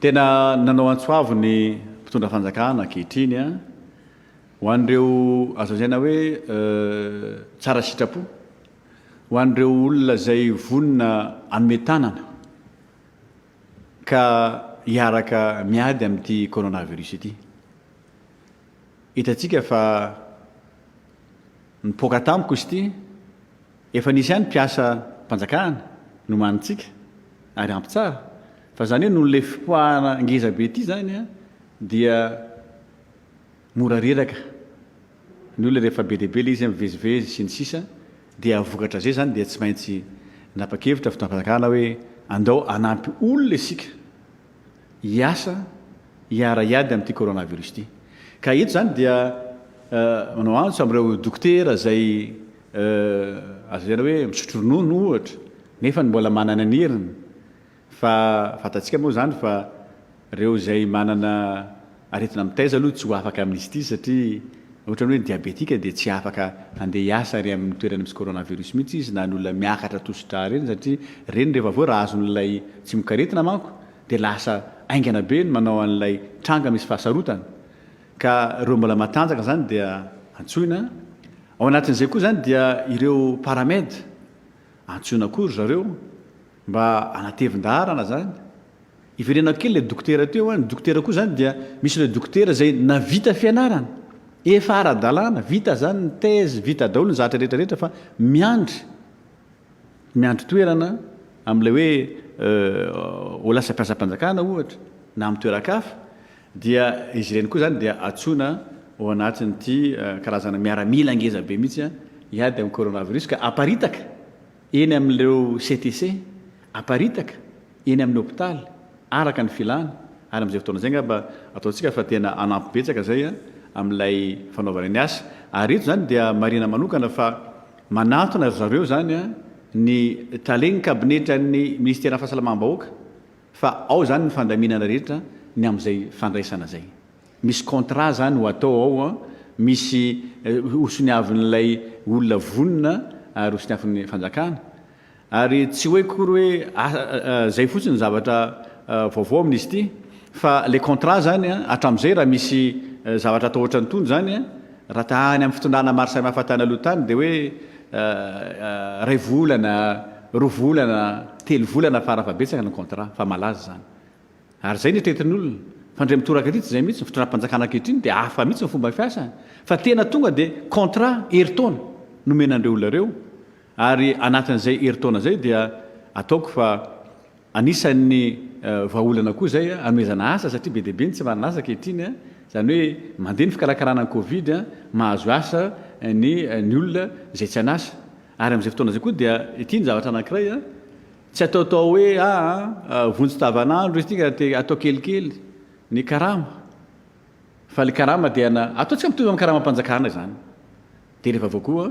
Tena nanao antso avo ny mpitondra fanjakana ankehitriny an, ho an'ireo azo lazaina hoe tsara sitrapo, ho an'ireo olona izay vonona hanome tanana ka hiaraka miady amin'ity coronavirus ity. Hitantsika fa nipoaka tampoka izy ity. Efa nisy ihany mpiasa mpanjakana nomanintsika ary ampy tsara fa zany hoe noho ilay fipoahana ngeza be ity zany a dia mora reraka ny olona rehefa be dia be ilay izy a mivezivezy sy ny sisa dia vokatra zay zany dia tsy maintsy nanapa-kevitra fitondram-panjakana hoe andao hanampy olona isika hiasa hiara-hiady amin'ity coronavirus ity. Ka eto izany dia manao antso amin'ireo dokotera izay azo lazaina hoe misotro ronono ohatra nefa mbola manana ny heriny fa fantatsika moa izany fa ireo izay manana Aretina mitaiza aloha tsy ho afaka amin'izy ity satria ohatran'ny hoe diabetika dia tsy afaka handeha hiasa ary amin'ny toerana misy coronavirus mihitsy izy na ny olona miakatra tosi-drà ireny satria ireny rehefa avy eo raha azon'ilay tsy mikaretina manko dia lasa haingana be ny manao an'ilay tranga misy fahasarotana ka ireo mbola matanjaka izany dia antsoina ao anatin'izay koa izany dia ireo paramed antsoina koa ry zareo mba hanatevin-daharana izany. Hiverenako kely ilay dokotera teo an, ny dokotera koa izany dia misy ireo dokotera izay navita fianarana, efa ara-dalàna, vita izany ny thèse, vita daholo ny zavatra rehetra rehetra fa miandry, miandry toerana amin'ilay hoe ho lasa mpiasam-panjakana ohatra na amin'ny toeran-kafa dia izy ireny koa izany dia antsoina ao anatin'ity karazana miaramila ngeza be mihitsy an, hiady amin'ny coronavirus ka aparitaka. eny amin'ireo CTC, aparitaka eny amin'ny hopitaly, araka ny filana, ary amin'izay fotoana izay angamba ataontsika fa tena hanampy betsaka izay amin'ilay fanaovana ny asa, ary eto izany dia marihina manokana fa manatona ry zareo izany ny Talen'ny kabinetran'ny Minisiteran'ny Fahasalamam-bahoaka fa ao izany ny fandaminana rehetra ny amin'izay fandraisana izay. Misy contrat zany ho atao ao an, misy ho soniavin'ilay olona vonona ary ho soniavin'ny fanjakana. Ary tsy hoe akory hoe zay fotsiny ny zavatra vaovao amin'izy ity fa ilay contrat zany an, hatramin'izay raha misy zavatra atao ohatran'itony zany an, raha ta any amin'ny fitondrana maro samihafa tany aloha tany dia hoe iray volana, roa volana, telo volana fara fahabetsaka ny contrat fa malaza zany. Ary izay ny tretin'olona, fa ndray mitoraka aty tsy izay mihitsy ny fitondram-panjakana ankehitriny dia hafa mihitsy ny fomba fiasany fa tena tonga dia contrat herintaona no omena an'ireo olona ireo ary anatin'izay herintaona izay dia ataoko fa anisan'ny vahaolana koa izay anomezana asa satria be dia be ny tsy manana asa ankehitriny an, izany hoe mandeha ny fikarakarana ny covid an, mahazo asa ny ny olona izay tsy an'asa ary amin'izay fotoana izay koa dia ity ny zavatra anankiray an, Tsy ataotao hoe aa vonjy tavanandro izy ity ka dia atao kelikely ny karama fa ilay karama dia na ataontsika mitovy amin'ny karamam-panjakana izany dia rehefa avy eo koa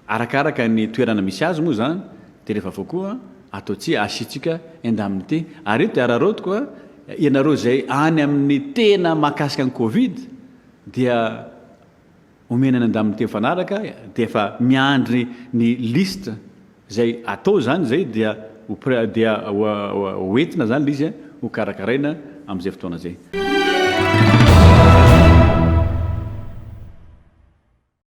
arakaraka ny toerana misy azy moa izany dia rehefa avy eo koa ataontsika asiantsika indemnité ary eto dia araraotiko a ianareo izay any amin'ny tena mahakasika ny covid dia omena ny andaniny teo mifanaraka dia efa miandry ny liste izay atao izany izay dia ho près dia ho entina izany ilay izy ho karakaraina amin'izay fotoana izay.